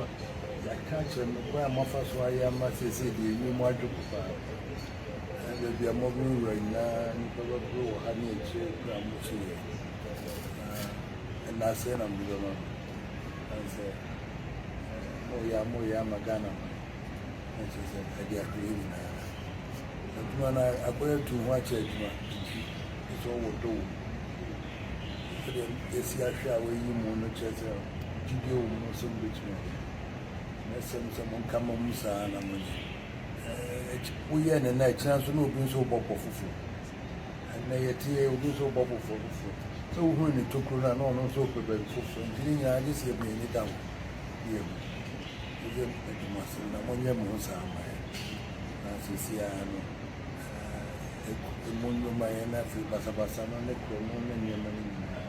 Ɔsɛ yɛka akyerɛ no kwan a moafa so ayɛ ama seesei deɛ ɛnyɛ mu adwoko paa. Na baabi a mobɛwura nyinaa nnipa bɛboro wɔ ha ne akyire berɛ a mokyi yɛn. Na ɛna sɛ na mode bɛma me. Na sɛ moyɛ a moyɛ ama Ghana man. Na kyerɛ sɛ ɛde ahwɛyɛ nyinaa. Adwuma no abɛyɛ atu ho akyɛ adwuma nti ɛsɛ ɔwɔ dɔ wɔ mu. Sɛdeɛ yɛsi ahwɛ a wɔayi mu no kyerɛ sɛ gyidie wɔ mo mu sɛ mobɛtumi ayɛ. Mɛsrɛ mo sɛ monka mmɔ mu saa ara na monyɛ. Ɛɛ, woyɛɛ no nnɛ, ɛkyena nso na obi nso rebɔ pɔ foforɔ. Ɛnnɛ yɛteɛ, obi nso rebɔ pɔ foforɔ. Sɛ wohunu ne tokuro no a, na ɔno nso repɛ baabi foforɔ. Nti ne nyinaa gye sɛ yɛde yɛn ani da hɔ na yɛhu. Moyɛ mede mo asɛm na monyɛ mo ho saa ma yɛn. Na seesei ara no, ɛɛ, emu nnwuma yɛn na afei basabasa no ne korɔno ne nneɛma no nyinaa.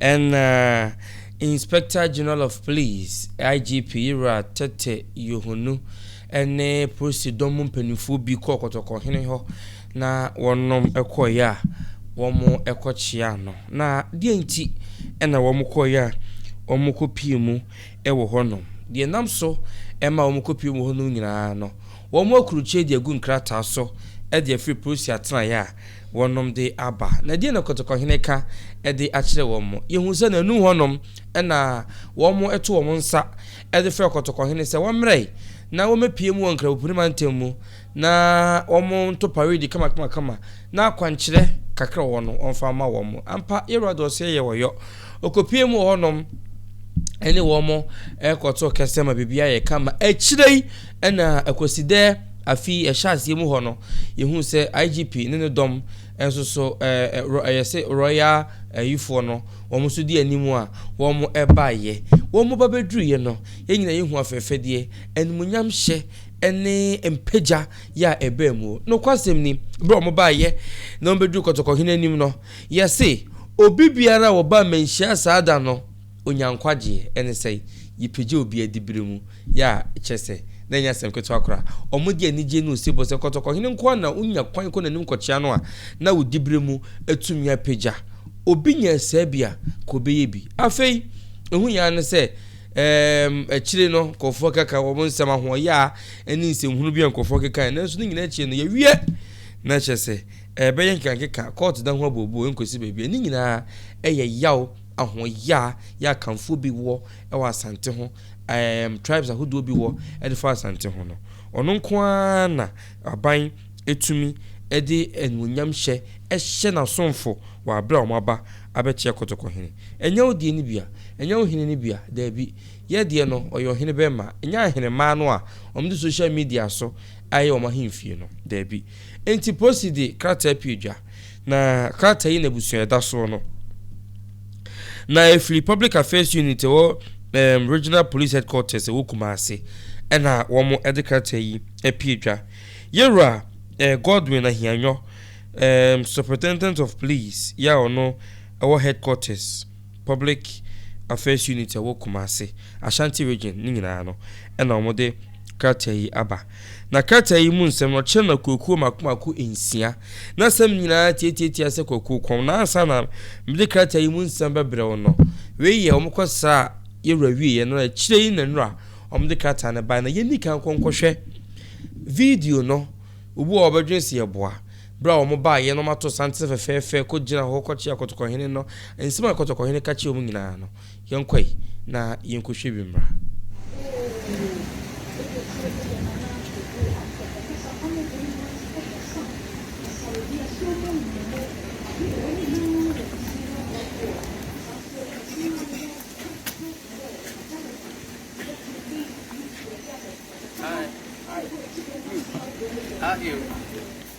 Ɛnna Inspector General of Police, IGP, Yewura Tete Yohonu ne polisi dɔm mu mpanimfoɔ bi kɔɔ Kɔtɔkɔ hene hɔ na wɔnom kɔeɛ a wɔkɔkyeaa no. Na deɛ nti na wɔkɔeɛ a wɔkɔpie mu wɔ hɔnom? Deɛ ɛnam so ma wɔkɔpie mu wɔ hɔnom nyinaa no, wɔakurukyire de agu nkrataa so de afiri polisi atenaeɛ a wɔnom de aba. Na ɛdeɛn na Kɔtɔkɔhene ka de akyerɛ wɔn? Yɛhu sɛ n'anum hɔnom na wɔn to wɔn nsa de frɛ Kɔtɔkɔhene sɛ wɔmmrɛ na wɔmmɛpue mu wɔ Nkrabopuni mantam mu na wɔn nto paredi kamakamakama na akwankyerɛ kakra wɔ hɔ no wɔmfa ma wɔn. Ampa, Yɛwurade ɔseɛ yɛ ɔyɔ. Ɔkɔpue mu wɔ hɔnom ɛne wɔn ɛkɔto kɛsɛ ma biribiara yɛ kama. Akyire yi, Ɛna Kwasida afe yi ɛhyɛ aseɛ mu hɔ no, yɛhuu sɛ IGP ne ne dɔm nso so ɛ, yɛse Royal ayifoɔ no, wɔn nso di anim a wɔn baeɛ. Wɔn ba bɛduruiɛ no, yɛn nyinaa yɛhuu afɛfɛdeɛ, animuonyamhyɛ ne mpagya yɛ a ɛbaa mu. Nokwasɛm ni, berɛ a wɔn baeɛ na wɔbɛduruu Kɔtɔkɔhene anim no, yɛse obi biara a ɔbaa mmanhyia saa da no, Onya nkwagyeɛ, ɛne sɛ, Yɛpagya obi adiberɛ mu, yɛ a, kyerɛ sɛ, na ɛnyɛ asɛm ketewa koraa. Wɔde anigyeɛ ne osebɔ sɛ kɔtɔkɔhene nko ara na ɔnya kwan kɔ n'anim kɔkyea no a, na wo diberɛ mu atumi apagya. Obi nya asia bi a, ka ɔbɛyɛ bi. Afei, ɛho hia ara ne sɛ, ɛɛm, akyire no, nkorɔfoɔ keka wɔn nsɛm ahoɔyaa ne nsɛmhunu bi a nkorɔfoɔ kekaeɛ, nanso ne nyinaa akyire no, yɛawie. Na kyerɛ sɛ, ɛbɛyɛ nkekankeka, kɔɔto da ho abooboo, ɛnkɔsi baabiara. Ne nyinaa yɛ yaw. ahoɔyea yɛ a Kanfoɔ bi wɔ wɔ Asante ho, ɛɛm tribes ahodoɔ bi wɔ de fa Asante ho no, ɔno nko ara na aban tumi de animuonyamhyɛ hyɛ n'asomfo wɔ aberɛ a wɔn aba abɛkyɛ Kotoko hene. Ɛnyɛ wo deɛ no bi a? Ɛnyɛ wo hene no bi a? Daabi. Yɛ deɛ no, ɔyɛ ɔhene bɛmma. Ɛnyɛ ahenemmaa no a wɔde social media so ayɛ wɔn ahemfie no. Daabi. Enti Posi de krataa pue dwa, na krataa yi n'abusua a ɛda soɔ no, na ɛfiri Public Affairs Unit ɛwɔ um, Regional Police Headquarters ɛwɔ Kumasi ɛna wɔn de krataa yi apue dwa. Yɛwura eh, Godwin Ahianyɔ, um, Superintendent of Police yɛ a ɔno ɛwɔ Headquarters Public Affairs Unit ɛwɔ Kumasi, Ashanti Region ne nyinaa no ɛna wɔn de krataa yi aba. Na krataa yi mu nsɛm no kyerɛ no akuakuo mako mako nsia. Na asɛm nyinaa tiatiatia sɛ kwakuo kɔm. Na ansa na mede krataa yi mu nsɛm bɛbrɛ wo no, wei yɛ wɔkɔsraa yɛn wura wieeɛ no, na akyire yi na nnora wɔde krataa no baeɛ. Na yɛnni kan nkɔ nkɔhwɛ video no, obi wɔ hɔ a ɔbɛdwene sɛ yɛboa. Berɛ a wɔbaeɛ na wɔato santene fɛfɛɛfɛ kɔgyinaa hɔ kɔkyerɛɛ Kɔtɔkɔhene no nsɛm a Kɔtɔkɔhene ka kyerɛɛ wɔn nyinaa no, Yɛnkɔe na yenkɔhwɛ bi mmra.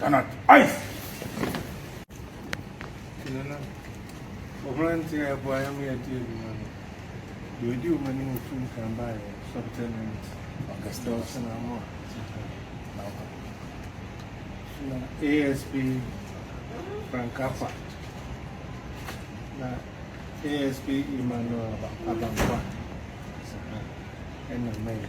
Ghana ice. Tinana, ɔhene nti a ɛboa yɛn ma yɛdi adwuma no, deɛ ɔdi wɔn anim ɔtu nkan baeɛ subtenant Augustus Namo Naba, na ASP Frank Afa, na ASP Emmanuel Abamfa, ɛna Mary.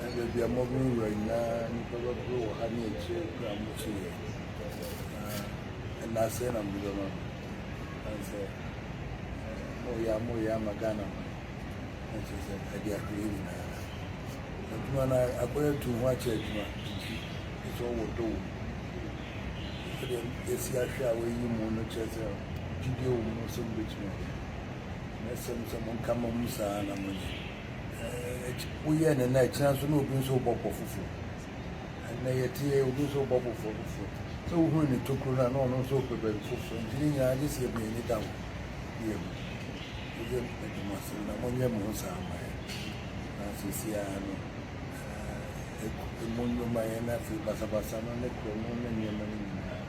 na baabi a morenwura nyinaa nnipa bɛboro wɔ ha ne akyire berɛ a morekyɛ yie na ɛna asɛe na mode bɛma me ɛne sɛ moyɛ a moyɛ ama Ghana ma na kyerɛ sɛ ɛde ahwere nyinaa adwuma no akɔyɛ tu ho akyɛ adwuma nti ɛsɛ ɔwɔ dɔ wɔ mu ɛdeɛ ɛsi ahwɛ a wɔyi mu no kyerɛ sɛ gyidie wɔ mu sɛ mobɛtumi ayɛ na ɛsɛm sɛ monka ma mu saa na monyɛ Woyɛ no nnɛ, kyena nso na obi nso rebɔ bɔ foforo. Ɛnɛ yɛte yɛ obi nso rebɔ bɔ foforo. Sɛ wohunu ne tokuro no a, na ɔno nso repɛ baabi foforo. Nti ne nyinaa gye sɛ yɛma yɛn ani da hɔ na yɛhu. Mode meda mo ase na monyɛ mo ho saa ma yɛn. Na seesei ara no, emu nnwuma yɛ na afei basabasa no ne koro no ne nneɛma no nyinaa,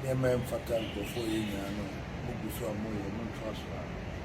nneɛma a ɛmfata nkurɔfoɔ yɛ nyinaa no, mogu so a moyɛ. Montra so ara.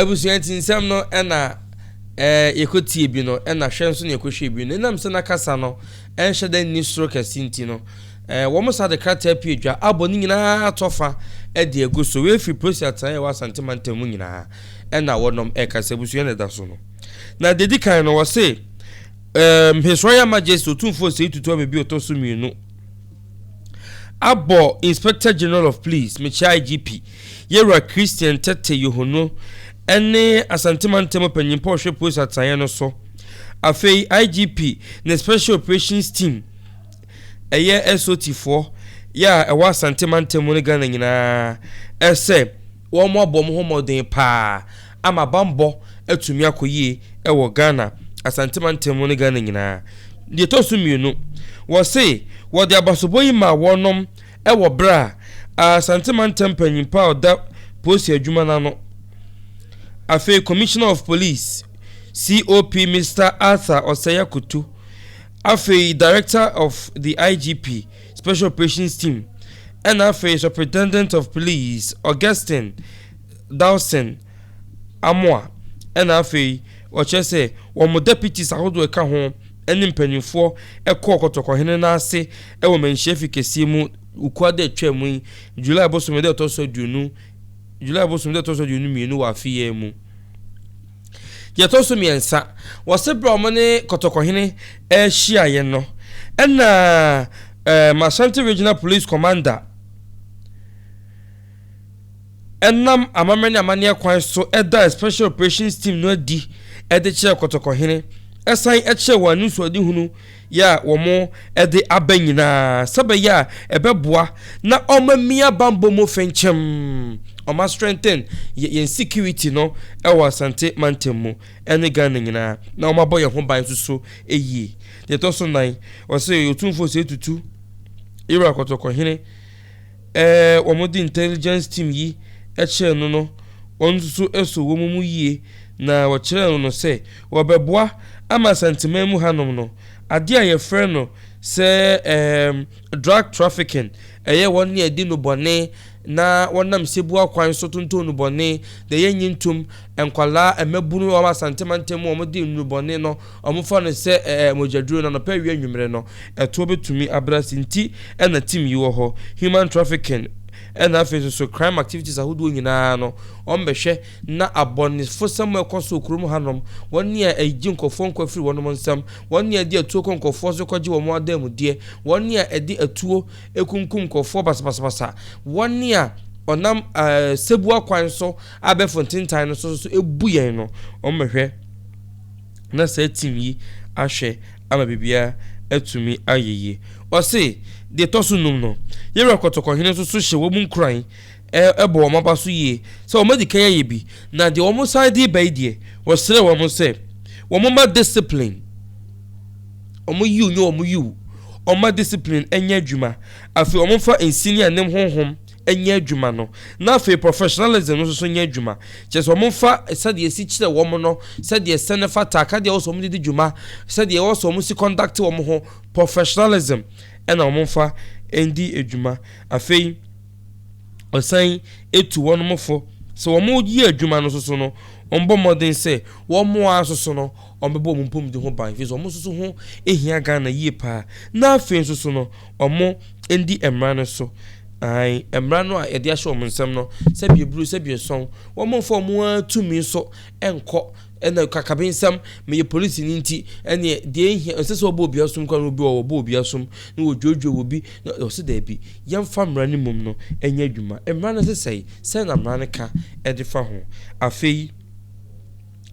abusua ti nsɛm no ɛna ɛɛ yɛkɔtie bi no ɛna hwɛ nso na yɛkɔhwɛ bi no ɛnam sɛ n'akasa no ɛnhyɛ da nni soro kɛse nti no Ɛɛ, wɔsan de krataa pue dwa abɔ ne nyinaa tɔfa de agu so. Wei afiri polisi atenae a ɛwɔ Asante mantam mu nyinaa. Ɛna wɔnom reka sɛ abusua na ɛda so no. Na deɛ ɛdi kan no, wɔse um, His Royal Majesty Otumfoɔ Osei Tutu Amebi Ɔtɔ so mmienu abɔ Inspector General of Police, mekyia IGP, Yɛwura Christian Tetteh Yohono ne Asante mantam mu panyinpɔ ɔhwɛ polisi atenaeɛ no so. Afei IGP ne Special Operations Team ɛyɛ SOTfoɔ yɛ a ɛwɔ Asante mantam mu ne Ghana nyinaa sɛ wɔabɔ wɔn ho mmɔden pa ara ama bammɔ atumi akɔ yie wɔ Ghana, Asante mantam mu ne Ghana nyinaa. Deɛ ɛtɔ so mmienu, wɔse wɔde abasobɔ yi maa wɔnom wɔ berɛ a Asante mantam panyinpa a ɔda polisi adwuma no ano, afei Commissioner of Police, COP, Mister Arthur Ɔsɛe Akoto, Afei Director of the IGP Special Operations Team ɛna afei Superintendent of Police Augustine Dawson Amoah ɛna afei wɔkyerɛ sɛ wɔn Deputies ahodoɔ ɛka ho ɛne mpaninfoɔ ɛkɔɔ Kɔtɔkɔhene no ase ɛwɔ Manhyia Fi kɛseɛ mu Ukua da ɛtwaa mu yi July bosome da ɛtɔ so aduonu July bosome da ɛtɔ so aduonu mmienu wɔ afe yi ara mu. Deɛ ɛtɔ so mmiɛnsa, wɔse berɛ a wɔn ne Kɔtɔkɔhene rehyiaeɛ no, ɛna ɛɛ Masanti Regional Police Commander nam amammerɛ ne amanneɛ kwan so daa Special Operations Team no adi de kyerɛɛ Kɔtɔkɔhene, san kyerɛɛ wɔn anisoadehunu yɛ a wɔde aba nyinaa sɛ bɛyɛ a ɛbɛboa na ɔma mia banbɔ mu fenkyɛm ɔma strengthen yɛn security no ɛwɔ Asante mantam mu ɛne Ghana nyinaa na ɔma bɔ yɛn ho ban nso so ɛyie deɛ ɛtɔ so nan ɔsɛ yɛ ɔtumfoɔ sɛ tutu Ira kɔtɔkɔhene Ɛɛ wɔn de intelligence team yi kyerɛɛ no no wɔn nso so so wɔn mu yie na wɔkyerɛɛ no no sɛ wɔbɛboa ama Asanteman mu hanom no adeɛ a yɛfrɛ no sɛ ɛɛm drug trafficking ɛyɛ wɔn ne adi no bɔne na wɔnam sebua kwan so tontɔn nnubɔne deɛ yɛnnye ntom nkwadaa mmabunu wɔ Asante mantam mu wɔn de nnubɔne no Wɔfa no sɛ ɛɛ mogyaduro no anɔpa awia anwumerɛ no ɛtoɔ bɛtumi abrɛ ase nti na team yi wɔ hɔ, human trafficking ɛna afei nso so crime activities ahodoɔ nyinaa no wɔbɛhwɛ na abɔnefosɛm a ɛkɔ so wɔ kurom hanom, wɔn a ɛgye nkurɔfoɔ nkwa firi wɔnom nsam, wɔn a ɛde atuo kɔ nkurɔfoɔ so kɔgye wɔn adanmudeɛ, wɔn a ɛde atuo kunkum nkurɔfoɔ basabasabasa, wɔn a ɔnam ɛɛ sɛbua kwan so abɛfo ntentan no so nso so ɛbu yɛn no wɔbɛhwɛ. na saa team yi ahwɛ ama biribiara atumi ayɛ yie. Ɔse, deɛ ɛtɔ so nnum no, Yɛwura Kɔtɔkɔhene nso so hyɛ wɔn nkuran bɔ wɔn aba so yie sɛ wɔn adi kan ayɛ bi, na deɛ wɔn san de reba yi deɛ, ɔsrɛ wɔn sɛ wɔn mma discipline, wɔn yiw nyɛ wɔn yiw, wɔn mma discipline nyɛ adwuma, afei wɔn mfa nsini a ɛne honhom nyɛ adwuma no na afei professionalism no nso so nyɛ adwuma, kyerɛ sɛ wɔmfa sɛdeɛ ɛsi kyerɛ wɔn no, sɛdeɛ ɛsɛ no fata, akadeɛ a ɛwɔ sɛ wɔde di dwuma, sɛdeɛ ɛwɔ sɛ wɔsi conduct wɔn ho, professionalism na wɔmfa ndi dwuma. Afei ɔsan tu wɔnom fo sɛ wɔyɛ adwuma no nso so no, wɔbɔ mmɔden sɛ wɔn ara nso so no wɔbɛbɔ wɔn mpomdi ho ban, ɛfiri sɛ wɔn nso so ho hia Ghana yie paa, na afei nso so no, wɔndi mmara no so, aane, mmara no a yɛde ahyɛ wɔn nsam no, sɛ bieburo, sɛ biesɔn, wɔmfa wɔn ara tumi so nkɔ, ɛna kakabensɛm, meyɛ polisini nti, ɛneɛ deɛ ɛhia, ɛsɛ sɛ wɔbɔ obi asom koraa no, obi wɔ wɔbɔ obi asom, na wɔdwoodwoo wɔ bi, na ɔse daabi, yɛmfa mmara no mmom no nyɛ adwuma, mmara no sesɛe, sɛn na mmara no ka de fa ho? Afei.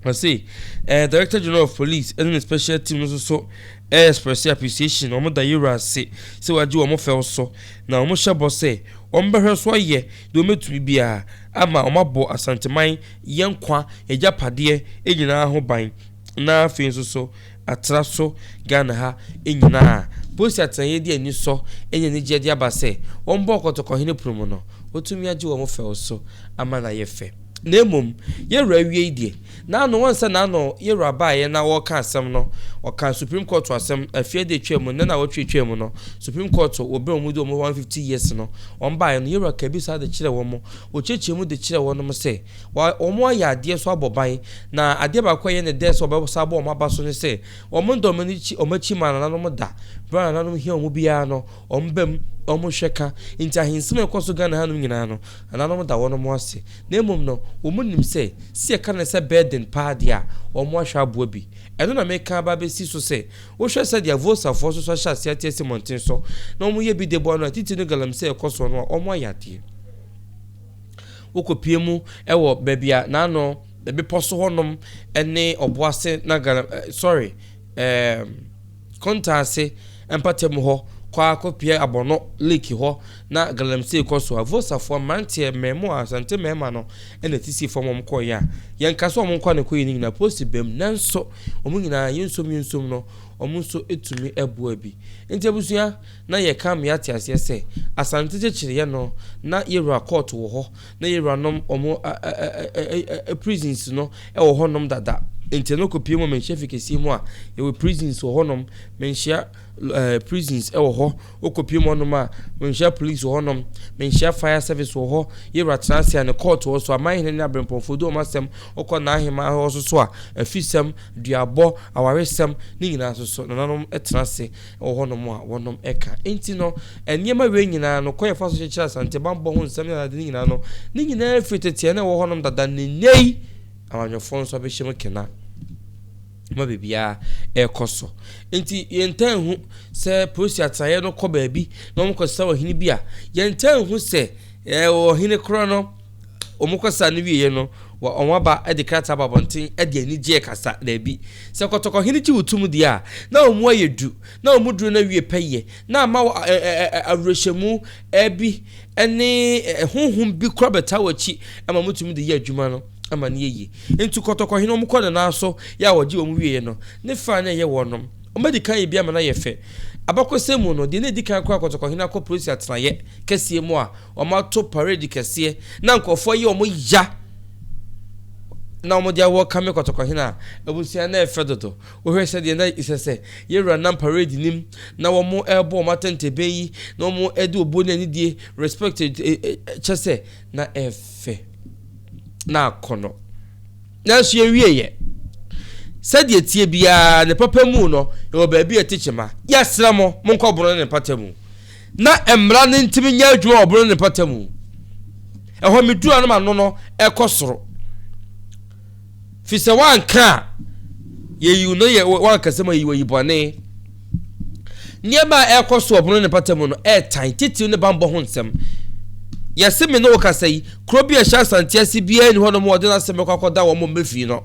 Ɔse eh Director General of Police ɛne ne special team no soso eh expresse appreciation wɔn da Yewura ase sɛ wagye wɔn fɛw so na wɔn hyɛ bɔ sɛ wɔn bɛhwɛ so ayɛ deɛ wɔn bɛtumi biara ama wɔn abɔ Asanteman yɛn nkwa agyapadeɛ nyinaa ho ban na afei nso so atra so Ghana ha nyinaa. Polisi atenaeɛ de anisɔ ne anigyeɛ de aba sɛ, wɔn bɔɔ Kɔtɔkɔhene pono mu no, wɔtumi agye wɔn fɛw so ama no ayɛ fɛ. Na mmom, Yɛwura awiei deɛ, n'ano, ɔnsa n'ano, Yɛwura baeɛ na ɔreka asɛm no, ɔkaa Supreme Court asɛm, afie ada atwaa mu, nnɛ na awɔtwe atwaa mu no, Supreme Court, wɔ berɛ a wɔn de wɔn 150 years no, wɔn baeɛ no, Yɛwura kaa bi saa de kyerɛɛ wɔn, wɔkyeakyea mu de kyerɛɛ wɔnom sɛ, Wɔayɛ adeɛ nso abɔ ban, na adeɛ baako a ɛyɛ no dɛ sɛ wɔbɛsan abɔ wɔn aba so ne sɛ, wɔnnda wɔn akyi wɔn akyi mma nananom da. Berɛ a nananom hia wɔn biara no, wɔbam, wɔhwɛ ka. Enti ahensɛm a ɛkɔ so Ghana hanom nyinaa no, nananom da wɔnom ase. Na mmom no, wɔnim sɛ, sɛ yɛka no sɛ burden paa deɛ a, wɔahwɛ aboa bi. Ɛno na mereka aba abɛsi so sɛ, wohwɛ sɛdeɛ Vosafoɔ nso so ahyɛ aseɛ ate asi mmɔnten so, na wɔyɛ bi de boa no a, titire no Galamsey a ɛkɔ soɔ no a, wɔayɛ adeɛ. Wokɔpue mu wɔ baabi a n'ano bepɔ so hɔnom ne Ɔboase Nagana eh, sorry, ehm, Kontaase mpatamu hɔ kɔ ara kɔpue Abɔnɔ Lake hɔ na Galamsey kɔ so a, Vosafoɔ mmeranteɛ, mmaamua, Asante mmarima no na ɛsisii fam wɔn kɔeɛ a, yɛnka sɛ wɔn nkwa na ɛkɔeɛ no nyinaa, post bam, nanso wɔn nyinaa, yɛnsom yɛnsom no, wɔn nso tumi boa bi. Nti abusua, Na yɛ ka mea te aseɛ sɛ asante kyekyere yɛ no na yɛ wura court wɔ hɔ na yɛ wura nom ɔmo ɛɛɛɛɛɛ prisons no ɛwɔ hɔ nom dada nti ɛno kɔ pie mu menhyɛ fi kɛseɛ mu a yɛ wɔ prisons wɔ hɔ nom menhyia ɛɛɛ prisons ɛwɔ hɔ wo kɔ pie mu hɔ nom a menhyia police wɔ hɔ nom menhyia fire service wɔ hɔ yɛ wura tena ase a ne court wɔ so aman hene ne abrempɔnfoɔ di ɔmo asɛm ɔkɔ naa hemaa hɔ so so a afisɛm duabɔ awaresɛm ne nyinaa so so nananom ɛtena ase wɔ hɔnom a wɔnom ka. Enti no, nneɛma wei nyinaa no, kwan a yɛfa so kyekyere Asante bammɔ ho nsɛm ne ade no nyinaa no, ne nyinaa firi tete a na ɛwɔ hɔnom dada ne nnɛ yi amanyɔfoɔ nso abɛhyɛ mu kena ma biribiara ɛrekɔ so. Enti yɛntaa nhu sɛ polisi atenaeɛ no kɔ baabi na wɔkɔsesa ɔhene bi a, yɛntaa nhu sɛ ɛɛ ɔhene korɔ no wɔkɔsaa no wieeɛ no, wɔn aba de krataa ba abɔnten de anigyeɛ rekasa, Dabi, sɛ kɔtɔkɔhene gye wo tom deɛ a, na wɔn mu ayɛ du, na wɔn mu duro no awie pɛyɛ, na ama wo awerɛhyɛmu bi ne honhom bi kora bɛtaa w'akyi ma motumi de yɛ adwuma no ma no yɛ yie. Nti kɔtɔkɔhene wɔn kɔ ne nan so yɛ a wɔgye wɔn wieeɛ no, ne faa na ɛyɛ wɔnom. Wɔn adi kan yɛ bi ama no ayɛ fɛ. Abakɔsɛm mu no, deɛ na ɛdi kan koraa kɔtɔkɔhene akɔ Persia tenaeɛ kɛseɛ mu a, Wɔato parade kɛseɛ na nkurɔfoɔ ayɛ wɔn ya na wɔde awɔ kame kɔtɔkɔhene a abusua no ɛfɛ dodo. Wohwɛ sɛdeɛ na ɛsɛ sɛ yɛwura nam parade no mu na wɔrebɔ wɔn atɛntɛbɛn yi na wɔde obuo ne anidie respect kyɛ sɛ na ɛfɛ na akɔnnɔ. Nanso yɛwieeɛ. Sɛdeɛ ɛteɛ biara ne papa mu no yɛwɔ baabi a ɛte kyema. Yɛsrɛ mo monkɔboro ne ne mpata mu. Na mmara no ntumi nyɛ adwuma wɔ bere ne mpɔtam mu. Ɛhɔ a midu ano ma no no kɔ soro. Fi sɛ woanka a, yeyi no yɛ woankasa mu ayi wayi bɔne. Nneɛma a ɛrekɔ so wɔ bere ne mpɔtam mu no ɛretan titiriw ne bammɔ ho nsɛm. Yɛse me ne wo kasa yi, kuro bi a ɛhyɛ Asante ase biara nni hɔ nom a wɔde n'asɛm bɛkɔ akɔda wɔn mmɛ fii no.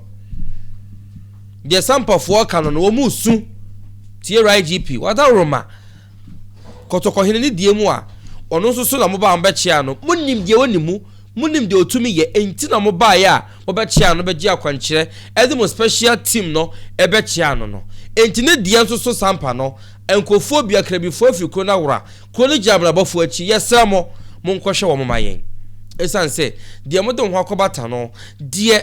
Deɛ Sampafoɔ ka no no, wɔn resu. Tie YGP, wɔadaworoma. Kɔtɔkɔhene no deɛ mu a, ɔno nso so na mobaa mo bɛkyeaa no. Monim deɛ ɔnim mu, monim deɛ ɔtumi yɛ, enti na mobaeɛ a mobɛkyeaa no bɛgye akwankyerɛ ɛde mo special team no bɛkyeaa no no. Enti ne deɛ nso so sampa no, nkurɔfoɔ bi, akrabifoɔ afiri kuro no awora, kuro no gyinabrabɔfoɔ akyi, yɛsrɛ mo, monkɔhwɛ wɔn ma yɛn. Ɛsiane sɛ deɛ mode mo ho akɔbata no, deɛ.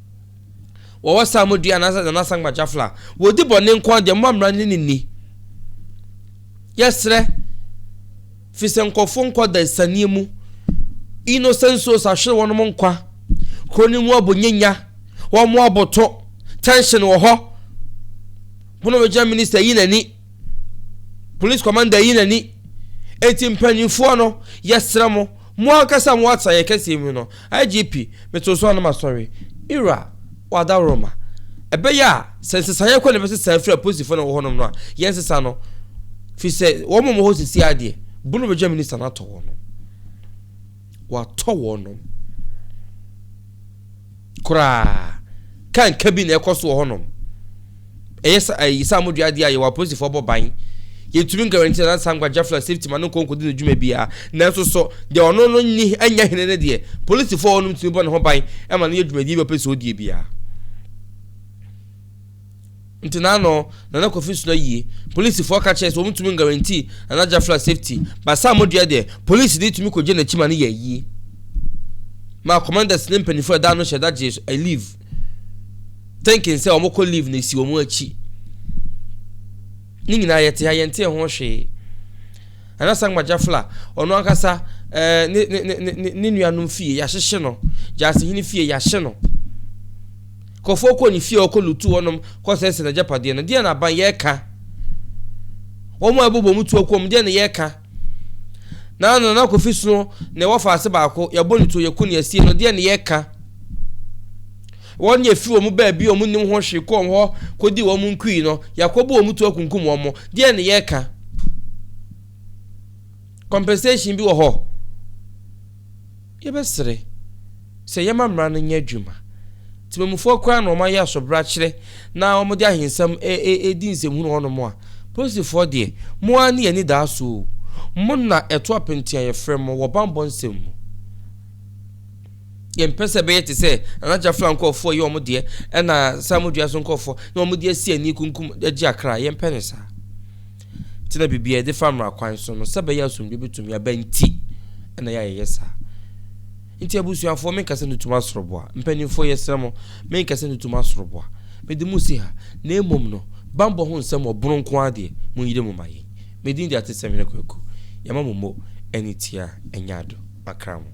Wɔwɔ psalmodua anaasɛ Nana Sankma Jafla. Wɔdi bɔne nko ara deɛ, momma mmara no ne nni. Yɛsrɛ, firi sɛ nkurɔfoɔ nkɔ dansanie mu. Innocent souls ahwere wɔnom nkwa. Kuro no mu abo nyɛ nya. Wɔn aboto. Tension wɔ hɔ. Pono bɛgyina minister ayi n'ani. Police commander yi n'ani. Enti mpanyinfoɔ no, yɛsrɛ mo, mo ankasa mo atra yɛn kɛseɛ mu no, IGP, meto so ano masɔre, Ira, Wadaworoma, ɛbɛyɛ a, sɛ nsesaeɛ kɔ na ɛbɛsesa afiri apolisifoɔ na ɛwɔ hɔnom no a, yɛnsesa no, firi sɛ wɔn a wɔwɔ hɔ sisi ara deɛ, bono bɛgya minista no atɔ wɔnom. Watɔ wɔnom. Koraa. Ka nka bi na ɛkɔ so wɔ hɔnom. Ɛyɛ sa ayi saa modua adeɛ a yɛwɔ apolisifoɔ bɔ ban. Yɛntumi guarantee Nana Sankwa Jafla safety ma no nkɔ nkɔdi ne dwuma biara. Nanso so deɛ ɔno no nni nyɛ hene no deɛ polisifoɔ a wɔnom tumi bɔ ne ho ban ma no yɛ dwumadie bi a ɔpɛ sɛ ɔdie biara? Nti na ano Nana Kofi sona yie. Polisifɔɔ ka kyerɛɛ sɛ wɔn ntumi nguarantii Nana Jafla safety, but saa modua deɛ, polisi ni tumi kɔgye nakyi ma no yɛ ayie. Maa commanders ne mpanyinfoɔ ɛda ano hyɛ da gyee a leave, thinking sɛ wɔn kɔ leave na esi wɔn akyi. Ne nyinaa yɛte ha yɛntee ho hwee. Nana Sankma Jafla, ɔno ankasa eh, ne, ne, ne, ne, ne nuanom fie yɛahyehye no, Gyasehene fie yɛahye no. Kɔfoɔ kɔɔ ne fie a ɔkɔ lutu hɔnom kɔsɛesɛe n'agyapadeɛ no, deɛn na aban yɛka? Wɔn a ɛbobɔ mu tu akuo mu, deɛn na yɛka? Na Nana Kofi Sno na ɛwɔ faase baako, yɛabɔ ne tuo, yɛku ne asie no, deɛn na yɛka? Wɔn deɛ firi wɔn baabi a wɔn nnim ho hwee kɔɔ hɔ kɔdii wɔn nkui no, yɛakɔbɔ wɔn tu akunkum wɔn, deɛn na yɛka? Compensation bi wɔ hɔ? Yɛbɛsrɛ sɛ yɛmma mmara no nyɛ adwuma. Temammufoɔ koraa na wɔayɛ asobrakyerɛ na wɔde ahensɛm redi nsɛmhunu hɔnom a, polisifoɔ deɛ, mo ara ne yɛn anidaso o. Mo na ɛto apenti a yɛfrɛ mo wɔ bammɔ nsɛm mu. Yɛmpɛ sɛ ɛbɛyɛ te sɛ Nana Jafla nkorɔfoɔ reyɛ wɔn deɛ ɛna Samu Dua so nkorɔfoɔ na wɔde asi ani rekunkum agye akra. Yɛmpɛ no saa. Kyerɛ biribi a yɛde fa mmara kwan so no sɛ ɛbɛyɛ a asomdwoe betumi aba nti na yɛayɛ saa. Nti abusuafoɔ, menka sɛ nutum asoroboa. Mpanimfoɔ, yɛsrɛ mo, menka sɛ nutum asoroboa. Mede mo si ha, na mmom no, bammɔ ho nsɛm wɔ bono nko ara deɛ, monyere mu ma yɛn. Me din de Atesɛmhene Kwaku. Yɛma mo mo ani tia, ɛnyɛ ado. Makra mo.